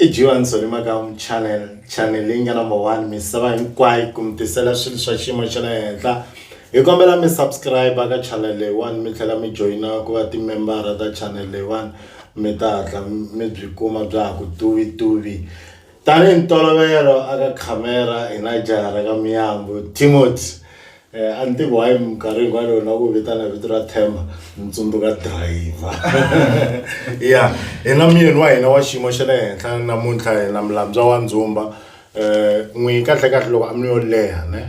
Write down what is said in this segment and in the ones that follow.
i jiwani solima ka channel channel leyi nga number one misava hinkwayo ku mi tisela swilo swa xiyimo xa le henhla hi kombela mi subscribe ka channel leyiwani mi tlhela mi joyina ku va timembara ta channel leyiwani mi ta hatla mi byi kuma bya ha ku tuvi tuvi Tanihi ntolovelo aka khamera hi na jaha ra ka Miyambu, Timothy. Eh, a ni tivi why minkarhi hinkwayo loko na ku vitana vito ra Themba ni tsundzuka driver. Ya, hi na muyeni wa hina wa xiyimo xa le henhla namuntlha hi na Mulandzwa wa Ndzumba. Eh, n'wi kahlekahle loko a mi yo leha ne.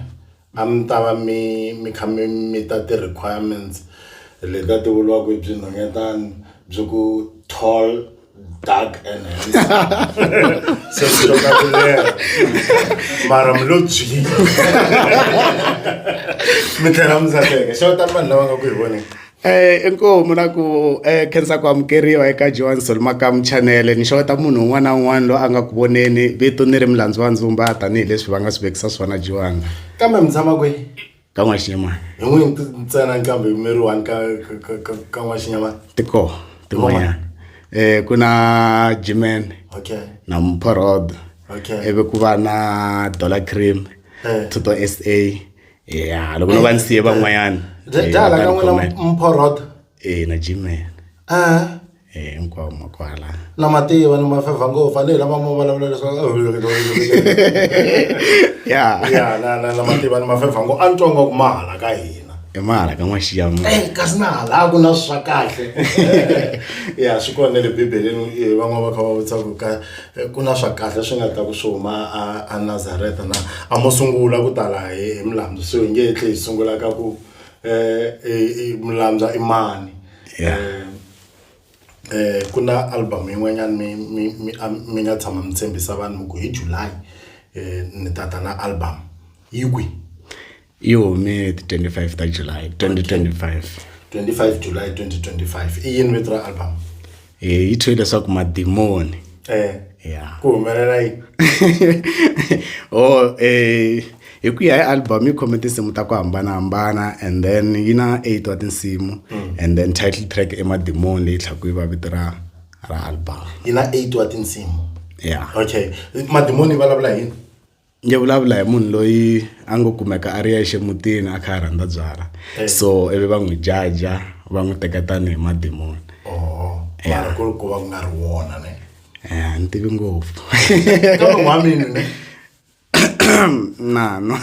A mi ta va mi mi kha mi mita ti-requirements leti a ti vuriwa ku i byinhonyetani byi ku tall dark and handsome se swi to ka ku leha mara mi lo byini mi tlhela mi tsakeka xana kutani vanhu lava nga ku hi voneni Eh, inkomu na ku eh, khensa ku amukeriwa eka johan solomakamu chanele ni xeweta munhu un'wana na un'wana loyi a nga ku voneni vito ni ri milandzu wa ndzumba tanihileswi va nga swi vekisa swona johan kambe mi tshama kwihi ka n'waxinyamana hi n'wi ntsena nkambe mi ri one ka ka- ka- ka- ka n'waxinyamana tiko tin'wanyana um ku na jiman okay na mphorod okay ivi ku va na dollar cream Eh. tuto s a ya loko no va ni siye van'wanyana eh, dala ka n'wina comment. mphorhoda eh na jimen Ah, eh hinkwavo ma kwala na mativa ni mafevha ngopfu a ni hi lama mo vulavula leswaku ya ya na na na mativa ni mafevha ngopfu a ni twa ngaku ma hala ka hina i mahala ka n'waxiya ma Eh, kasi na halaku na swa kahle ya swi kona le bibeleni eh, van'wana va kha va vutisa ku ka Eh, ku na swa kahle swi nga ta ku swi huma anazareta na a mo sungula ku tala hi hi milambu so hi nge hi tlhe hi sungula ka ku um milambywa i mani um ku na album yin'wanyana mi mi mi mi nga tshama mi tshembisa vanhu mi ku hi july um ni ta ta na album yi kwi yi hume hi ti 25 ta july 2025 25 july 2025 i yini vito ra album hi yi thyiwe leswaku madimoni eh ya ku humelela yi o eh hi ku ya hi album yi khome tinsimu ta ku hambanahambana and then yi na eight wa tinsimu mm. and then title track emadimoni leyi tlhaku yi va vito ra ra album yi na eight wa tinsimu ya okay madimoni yi vulavula yini ni vulavula hi munhu loyi a ngo kumeka a ri yexe mutini a kha a rhandza byala eh. so ivi va n'wi jaja va n'wi teka tanihi madimoni oh, mara ku ri ku va ku nga ri wona ne eh, ni tivi ngopfu nano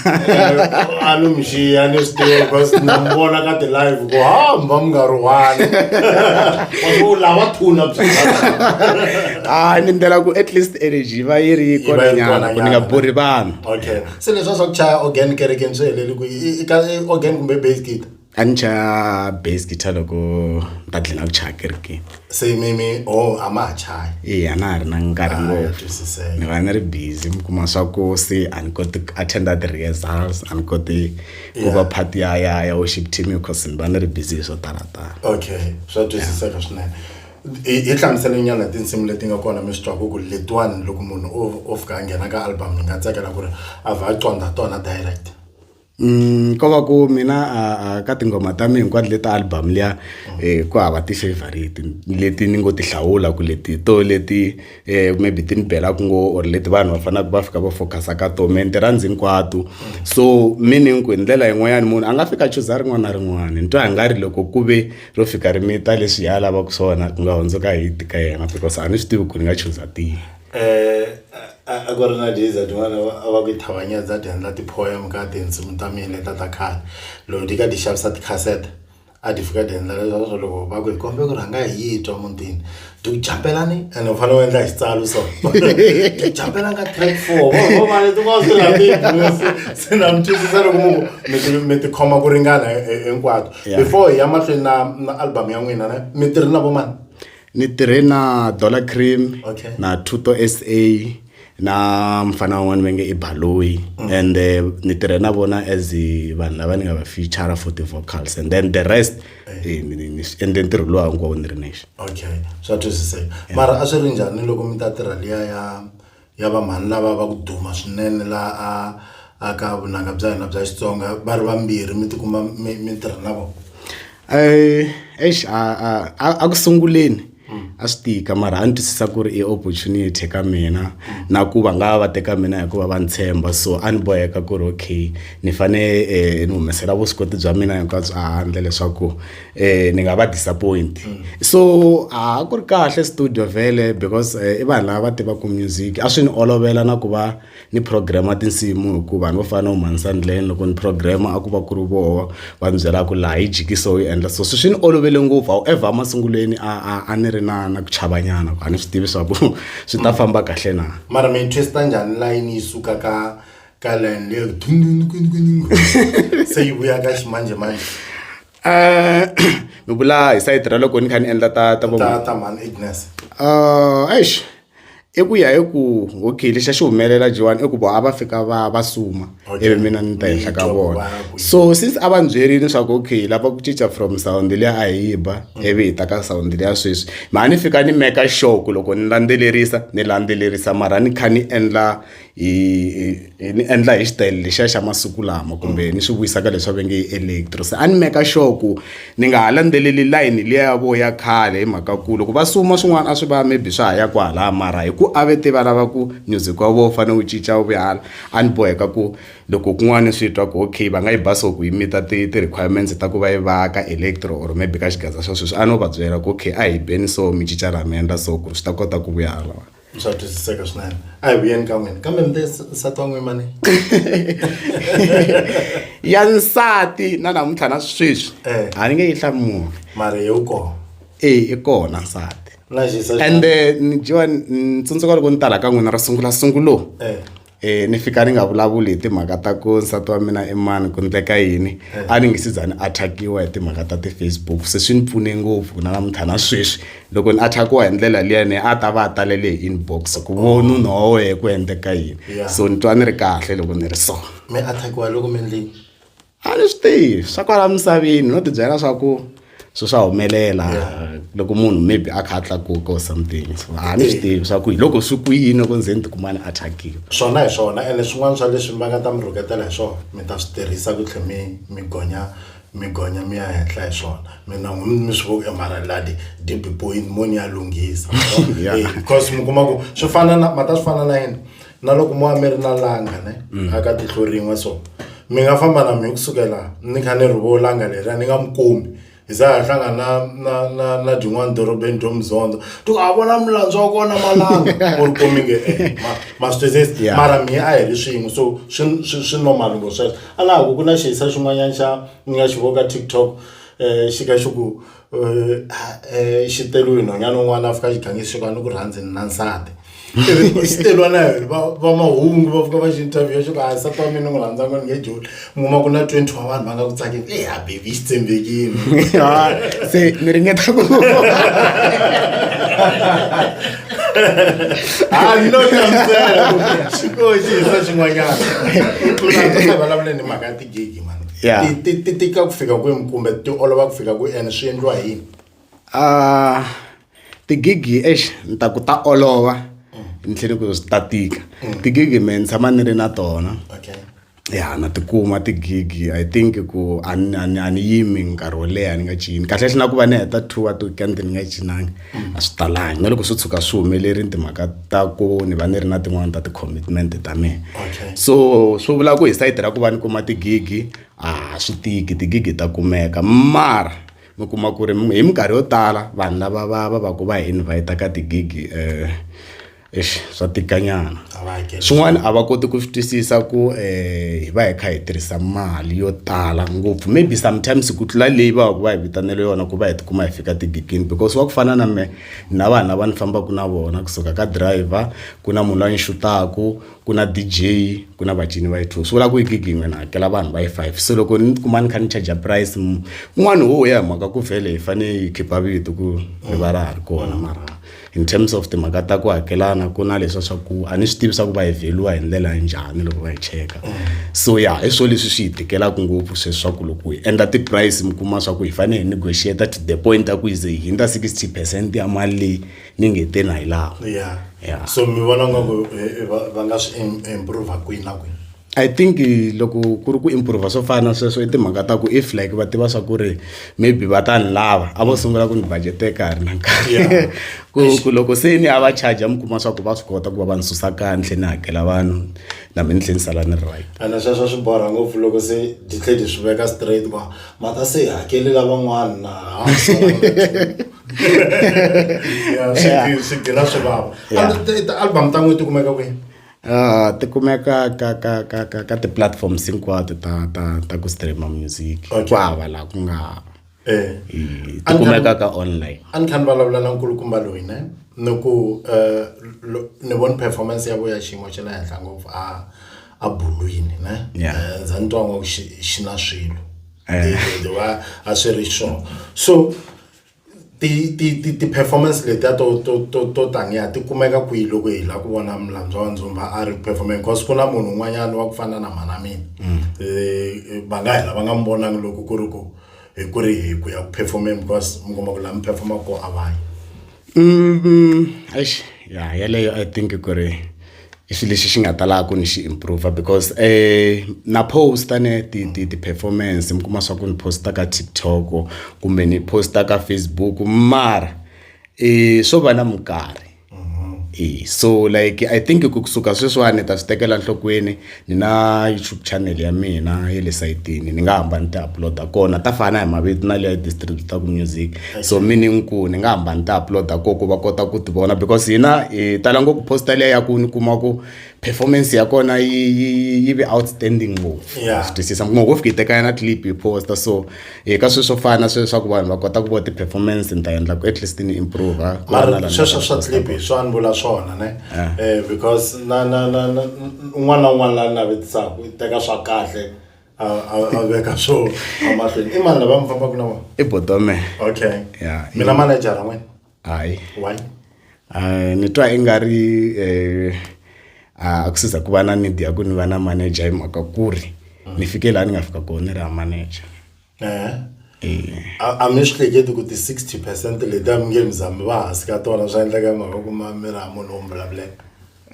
a ni mi xiya ni swi tiva because na mi vona ka ti-live ku hamba mi nga ri one wa thuna hayi ni ndlela ku at least energy va yi ri kona nyana ku ni nga borhi vanhu okay se leswa swa ku chaya organ kerekeni swi heleli ku i ka organ kumbe base kit a ni chaya base guitar loko ni ta dlina ku chaya kerekeni se mimi o oh, a ma ha chaya e a na ha ri na nkarhi ah, ngopfu ni va ni ri busy mi kuma swa ku se a ni koti ku attenda ti-rehearsals a ni koti ku va part ya ya ya worship team because ni va ni ri busy hi swo talatala okay swa twisiseka swinene hi hi hlamusele nyana tinsimu leti nga kona mi swi twa ku ku letiwani loko munhu o o fika a nghena ka album ni nga tsakela ku ri a vha a conda tona direct Mm, ko va ku mina a, a ka tinghoma ta mina hinkwato leti album liya eh, ku hava ti-favorite leti ni ngo ti hlawula ku leti to leti eh, maybe ti ni belaka ngo or leti vanhu va fanelaka va fika va focus-a ka to me ni ti rhandzi hinkwato so meaning ku hi ndlela yin'wanyana munhu a nga fika chuza rin'wana na rin'wana ni twa hi nga ri loko ku ve ro fika ri mita leswi ya lavaka swona ku nga hundzuka hi ti ka yena because a ni swi tivi ku ni nga chuza tihi um a ku ri na diza tin'wana a va ku yi thavanyedza ti endla ti-poem ka tinsimu ta mina leta ta khale loko ti ka ti xavisa tikhasete a ti fika ti endla leswaku loko va ku hi kombe ku rhanga hi yi twa mutini to jumpela ni ene u fanele u endla xitsalo so to jumpela ka track four vo mali tin'wana swi rhandzi se na mi twisisa loko mu mi tikhoma ku ringana eh, eh, hinkwato before hi ya mahlweni na na album ya n'wina ne mi tirhi na vo mani ni tirhe na dollar cream okay. na tuto sa na mfana wan'wana va nge i baloyi mm. and eh, ni tirhe na vona as vanhu lava ni nga va feature for the vocals and then the rest eh. Eh, ni endle ntirho lowu hinkwawo ni ri nexe okay swa twisiseka mara a swi ri njhani loko mi ta tirha liya ya ya vamhani lava va ku duma swinene la a aka vunanga bya hina bya xitsonga va ri vambirhi mi tikuma mi tirha na vona um eish a ku sunguleni a swi tika mara a ni twisisa ku ri i opportunity ka mina na ku va nga va teka mina hikuva va ni tshemba so a ni boheka ku ri okay ni fane eh, ni humesela vuswikoti bya mina hinkwabyo ehandle leswaku um ni nga va disappoint so a ku ri kahle studio vhele because eh, i vanhu lava va tivaka music a swi ni olovela na ku va ni program tinsimu hikuva vanhu vo fana na umanisa ndleni loko ni program a ku va ku ri voho va ni byelaka ku laha yi jikisa u yi endla so swi swi ni olovele ngopfu however emasungulweni a a a ni ri na na ku chavanyana a ni swi tivi swa ku swi ta famba kahle na mara mi twista njhani layini yi suka ka ka layini leyo se yi vuya ka ximanjemanje Eh, mi vula hi sayiti ra loko ni kha ni endla ta ta vo ta mhani agnes um eh, eish i ku ya hi ku okay lexi a xi humelela jiwani i ku vo a va fika va va suma ivi mina ni ta henhla ka vona so since a va ni byerile leswaku okay lava ku cinca from sawundi liya a hi ba mm. ivi hi ta ka sawundi liya sweswi mhani ni fika ni meka sure ku loko ni landzelerisa ni landzelerisa mara ni kha ni endla hi hi ni endla hi xitayele lexiya xa masiku lama kumbe ni swi vuyisa ka leswi va nge electro se a ni meka sure ku ni nga ha landzeleli layini liya ya vo ya khale hi mhaka ku loko va suma swin'wana a swi va maybe swa ha ya kwalaya mara hi ku a ve te va lava ku music wa vo wu fanele wu cinca wu vuya hala a ni boheka ku loko kun'wana ni swi twa ku okay va nga yi ba so ku yi mita ti ti-requirements ta ku va yi va ka electro or maybe ka xigaza xa sweswi a no va byela ku okay a hi beni so mi cinca laha mi endla so ku ri swi ta kota ku vuya halawani. swa twisiseka swinene a hi vuyeni ka n'wina kambe mi te nsati wa n'wina mani ya nsati na namuntlha na sweswi eh. a ni nge yi hlamuli mari hi wu kona e i kona nsati ende ni dyiwa ni tsundzuka loko ni tala ka n'wina ri sungula sungulo eh. E, ni fika ni nga vulavuli hi timhaka ta ku nsati wa mina i mani ku ndleka yini eh. a ni ngi si za ni attackiwa hi timhaka ta ti-facebook se swi ni pfune ngopfu na namuntlha na sweswi loko ni attackiwa hi ndlela liyani a ta va a talele hi inbox ku vo nuna wa wehe ku endleka yini so ni twa ni ri kahle loko ni ri so mi attackiwa loko mi endleni a ni swi tivi swa kwala misaveni no tibyela swa ku swi swa humelela loko munhu maybe a kha a tlakuka or something so a ni swi tivi swa ku hi loko swi ku yini ku ndzeni tikumani a thyakile swona hi swona ene swin'wana swa leswi va nga ta mi rhuketela hi swona mi ta swi tirhisa ku tlhe mi mi gonya mi gonya mi ya henhla hi swona mina n'wini mi swi voku emaraladi deep point mo ni ya lunghisa because mi kuma ku swi fana na ma ta swi fana na yini na loko mo va mi ri na langa ne a ka tihlo rin'we so mi nga famba na mi kusukela ni kha ni rivo langa leriya ni nga mi kumi hi za ha hlangana na na na na dyin'wana dorobeni dyo muzondza ti ku a vona mulandzo wa kona malanga ku ri komi nge e ma ma swi twisisi Yeah. mara mihe a hi ri swin'we so swi swi swi normal ngo sweswo a na ha ku ku na xihisa xin'wanyana xa ni nga xi voka tiktok um xi ka xi ku xitelo hi nhwanyana un'wana a fika a xi gange xi ni ku rhandzi ni na nsati xitelo na yona va va mahungu va fika va xi interview xo ka nsati wa mina ni n'wi rhandza ku ni nge joni mi kuma ku na twenty wa vanhu va nga ku tsakeni e ha baby xi tshembekile se ni ringeta ku I'm not concerned. Xikoxi hi swa xin'wanyana. Vulavula ni mhaka gigi mani Yeah. ti ti- ti tika ku fika kwini kumbe ti olova ku fika kwi and swi endliwa hi yini Ah, tigigi ex ni ta ku ta olova ni tlhele ku swi ta tika tigigi me ni tshama ni ri na tona okay ya na tikuma tigigi i think ku a ni- a ni a ni yimi nkarhi wo leha ni nga cini kahle hle na ku va ni heta two wa ti-weekend ni nga cinangi a swi talangi na loko swi tshuka swi humelerile timhaka ta ku ni va ni ri na tin'wani ta ti-commitment ta mina okay. so swi vula ku hi sayiti ra ku va ni kuma tigigi a swi tiki tigigi ta kumeka mara mi kuma ku ri hi minkarhi yo tala vanhu lava va va va ku va hi invhayita ka tigigi um Eish swa tika nyana swin'wana a va koti ku swi twisisa ku um hi va hi kha hi tirhisa mali yo tala ngopfu maybe sometimes ku tlula leyi va va hi vitanele yona ku va hi tikuma hi fika tigigini because wa ku fana na me na vanhu lava ni fambaka na vona kusuka ka driver ku na munhu la ni xutaku ku na D_J ku na vacini va yi two swi vula ku yi gigi yin'we ni hakela vanhu va yi five se loko ni tikuma ni kha ni charger price un'wana wo ya hi mhaka ku vhele hi fane hi khipa vito ku ri va ra ha ri kona mara. in terms of timhaka ta ku hakelana ku na leswa swa ku a ni swi tivi swa ku va hevheliwa hi ndlela ya njhani loko va hi cheka so ya hi swona leswi swi hi tikelaka ngopfu sweswi swa ku loko hi endla ti-price mi kuma swa ku hi fanele hi negotiate to the point ta ku yize hi hundza sixty percent ya mali leyi ni nge te na hi laha ya so mi vona ngaku eh, eh, va nga swi improve kwini na kwini I think loko ku ri ku improve swo fana na sweswo i timhaka ta ku if like va tiva swa ku ri maybe va ta ni lava a vo sungula ku ni budgete ka ha ri na nkarhi ku ku loko se ni a va charger mi kuma swa ku va swi kota ku va va ni susa ka ni tlhela ni hakela vanhu na mina ni tlhela ni sala ni ri right ene sweswo swi borha ngopfu loko se ti tlhe ti swi veka straight ku ma ta se hakeli lavan'wana na swi gira swi vava album ta n'wi ti kumeka kwihi Uh, ti kumeka ka ka ka ka ka ti-platforms hinkwato ta ta ta ku streama music Okay. ku hava laha ku nga eh eh, ti kumeka ka online a ni tlhela ni vulavula na nkulukumba loyi ne ni ku eh, lo- ni voni performance ya vuya xiyimo xa le henhla ngopfu a a bulwini ne Yeah. Eh, ndza ni twa ngo xi xi na swilo Eh. Eh, wa a swi ri sure so ti ti ti ti performance letiya to to to to taniya ti kumeka kwihi loko hi la ku vona mulandzwa wa ndzumba a ri performing cause ku na munhu un'wanyana wa ku fana na mhana mina mm. eh, va nga hela va nga mi vonangi loko ku ri ku hi ku ri hi ku ya ku performing because mi kuma ku la mi performa ko a vayi mm, mm, ya yeleyo i think ku ri i xilo lexi xi nga ta lava ku ni xi improve because na post-a ne ti ti ti-performance mi kuma swa ku ni post-a ka TikTok kumbe ni post-a ka Facebook mara swo va na minkarhi so like I think ku kusuka sweswiwani ni ta swi tekela nhlokweni. ni na YouTube channel ya mina ya le sayitini ni nga hamba ni ti upload-a kona ta fana hi mavito na leya distributaku music so mi ni ku ni nga hamba ni ti upload-a ko ku va kota ku ti vona because hina hi tala ngopfu posta leya ya ku ni kuma ku performance ya kona yi yi yi ve outstanding ngopfu Yeah. swi twisisa mi kuma ku wo fika yi teka yana clip yi posta so hi ka sweswo fana swe leswaku vanhu va kota ku vo ti-performance ni ta endla ku at least ni improve mara sweswo swa clip hi swa ni vula swona ne eh. eh because na na na un'wana na un'wana la ni navetisaka i teka swa kahle a veka swo amahlweni i mani lava mi fambaka na vona i botome okay ya mina manejara n'wena hayi why uh, ni twa i nga ri eh, a ku siza ku va na need ya ku ni va na manager hi mhaka ku ri mm. ni fike laha ni nga fika kona ni ri ha manager eh. a mi swi hleketi ku ti-60 percent leti a mi nge mi zami va hansi ka tona swa endleka mhaka ku ma mi ri ha munhu wo mi vulavuleka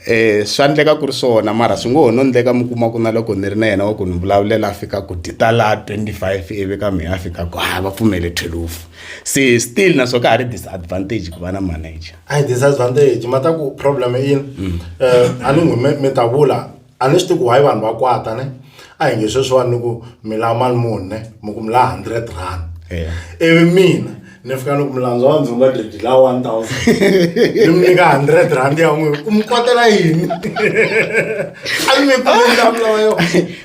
um swa endleka ku ri swona mara swi ngo ho no endleka mi kuma ku na loko ni ri na yena wa ku ni vulavulela a fika ku ta laha twenty five ivi ka mehe a fika ku ha va pfumele thwelufu se still na swo ka ha ri disadvantage ku va na manager a yi disadvantage ma ta ku problem i yini um a ni n'wi mi ta vula a ni swi tivi ku why vanhu va kwata ne a hi nge sweswiwani ni ku mi lava mali muni ne mi ku mi lava hundred rand ivi mina ni fika ni ku mulandzwa wa ndzi nga dredi la one thousand ni mi nyika hundred rand ya n'wi u mi kotela yini a ni mi kumelavulavula yo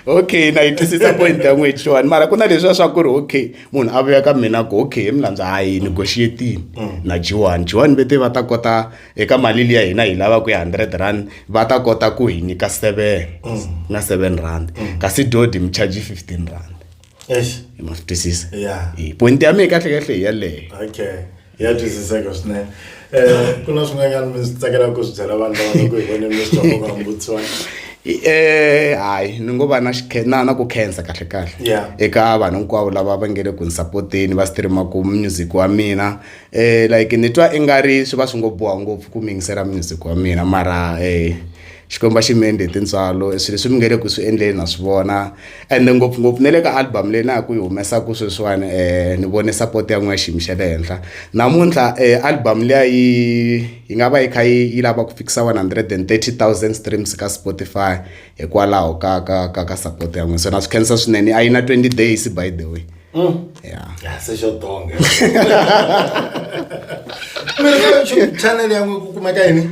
okay na yi twisisa point ya n'wi xiwani mara ku na leswiya swa ku ri okay munhu a vuya ka mina ku okay hi mulandzwa a yi negotiatini mm. na jiwani jiwani vete va ta kota eka mali liya hina hi lava ku ya hundred rand va ta kota ku hi nyika seven mm. na seven rand mm. kasi dodi mi charge fifteen rand eish ma swi twisisa Yeah. Eh, point ya mina kahlekahle hi yaleyo okay ya twisiseka swinene um ku na swin'wanyana mi swi tsakelaka ku swi byela vanhu lava nga ku hi voneni mi swi twa nkoka wa mbutsiwana Eh, hayi ni ngo va na xikhe- na na ku khensa kahle kahle Yeah. eka vanhu hinkwavo lava va nge le ku ni sapoteni va streamaku music wa mina eh like ni twa i nga ri swi va swi ngo boha ngopfu ku mi yingisela music wa mina mara eh xikwembu xi mi endle hi tintswalo swilo leswi mi nge le ku swi endleni na swi vona and ngopfungopfu ne le ka album leyi na ya ku yi humesaku sweswiwani um ni vone support ya n'wina xiyimi xa le henhla namuntlha um album liya yi yi nga va yi kha yi yi lava ku fikisa one hundred and thirty thousand streams ka spotify hikwalaho ka ka ka ka support ya n'wina so na swi khensa swinene a yi na twenty days by the way mm. ya se xo tonga mi ri ka youtube channel ya n'wi ku kumeka yini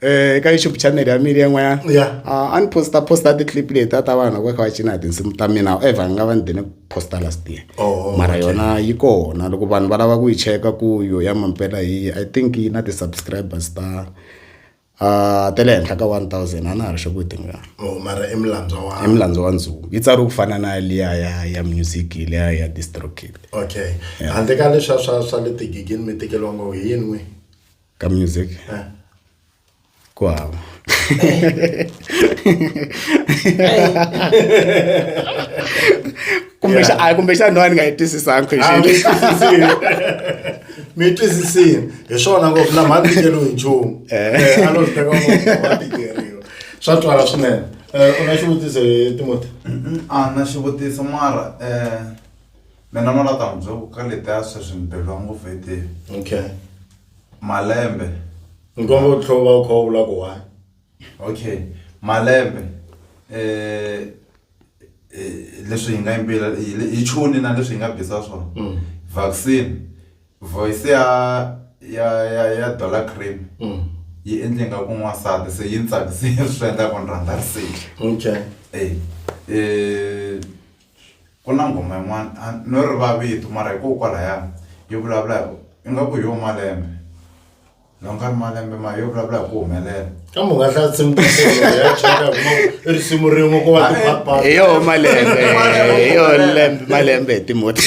Eh, eka youtube channel ya mina yan'wanyana Yeah. Ah, a ni posta posta ti-clip leti a ta vanhu loko va kha va cina hi tinsimu ta mina however ni nga va ni dine ku posta last year Oh, mara okay. yona yi kona loko vanhu va lava ku yi cheka ku yo ya mampela hi yihi, i think yi na ti-subscribers ta ah, ta le henhla ka 1000 a na ha ri xoku yi tingana oh mara i mulandzwa i wa mulandzu wa ndzungu yi tsariwe ku fana na liya ya ya music liya ya distrokid okay handle ka leswa swa swa le tigigini mi tekeriwa ngo hi yini n'wi ka music Eh. ku hava kumbexana a kumbexana no a ni nga yi twisisanga Ah, question mi twisisile mi twisisile hi swona ngopfu na mhani tikeriwi hi nchumu Eh, a lo swi teka ngopfu wa tikeriwa swa twala swinene Eh, u na xivutiso hi timoti a na xivutiso mara um Mina n'wana ta n'wi byela ku ka letiya sweswi ni beriwa ngopfu hi tihi okay malembe ni komba ku tlhova u kha u vula ku why okay malembe eh leswi hi nga yimbila hi chuni na leswi hi nga bisa swona mm. vaccine voice ya ya ya ya dollar cream mm. yi endle nga ku n'wansati se yi ni tsakisile swi endla ku ni rhandza riseki okay eh eh Ku na nghoma yin'wana a no riva vito mara hi koho kwalaya yi vulavula hi ingaku hi yoho malembe loko nga ri malembe mara yo vulavula hi ku humelela kambe u nga hlaya nsimu ta solo ya cheka hi kuma i risimu rin'we ko va tiphapha hi yoho malembe hi yoho lembe malembe hi timhoti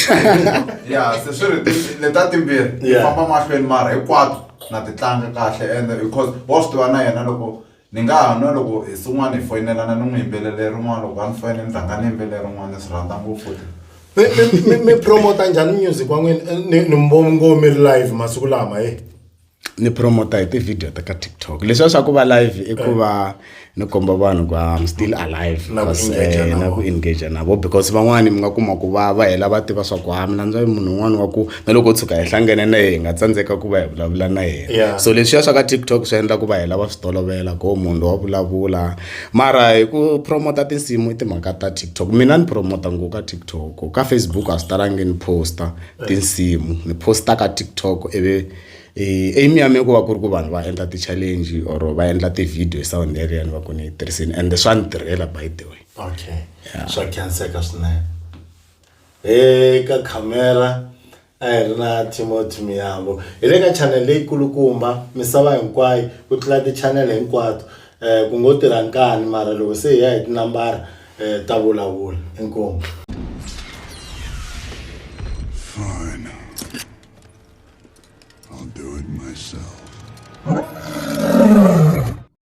ya se swi ri leta timbirhi hi Yeah. famba mahlweni mara hinkwato na ti tlanga kahle ende because wa swi tiva na yena loko Ni nga ha nwa loko hi swin'wana hi foyinelana ni n'wi yimbelele rin'wana loko a ni foyinela ni rhanga ni yimbelela rin'wana ni swi rhandza ngopfu futhi mi mi- mi- mi promota njhani music wa n'wina Eh, ni ni mbo- ngo mi ri live masiku lama e ni promota hi tivhidiyo ta ka tiktok leswiya swa ku va live i ku va ni komba vanhu ku am still alive Na ku because, engage eh, na na ku engage na vo because van'wani mi nga kuma ku va va hela va tiva swa ku ha mina ndza munhu un'wana wa ku na loko u tshuka hi hlangene na yena hi nga tsandzeka ku va hi vulavula na yena yeah. so leswiya swa ka tiktok swi endla ku va hi lava swi tolovela ko munhu lowa vulavula mara hi ku promota tinsimu i timhaka ta tiktok mina ni promota ngo ka tiktok ka facebook a swi talangi ni posta tinsimu ni posta ka tiktok ivi Eh, aim ya mina ku va ku ri ku vanhu va endla ti-challenge or va endla ti-video sound erian va ku ni yi tirhisini and swa ni tirhela by the way okay swa khanseka swinene Eka khamera a hi ri na Timothy Miyambo. Hi le ka chanele leyi kulukumba misava hinkwayo ku tlula tichanele hinkwato. Eh, ku ngo tirha nkani mara loko se hi ya hi tinambara eh, ta vulavula. Inkomu. Fine. I'll do it myself.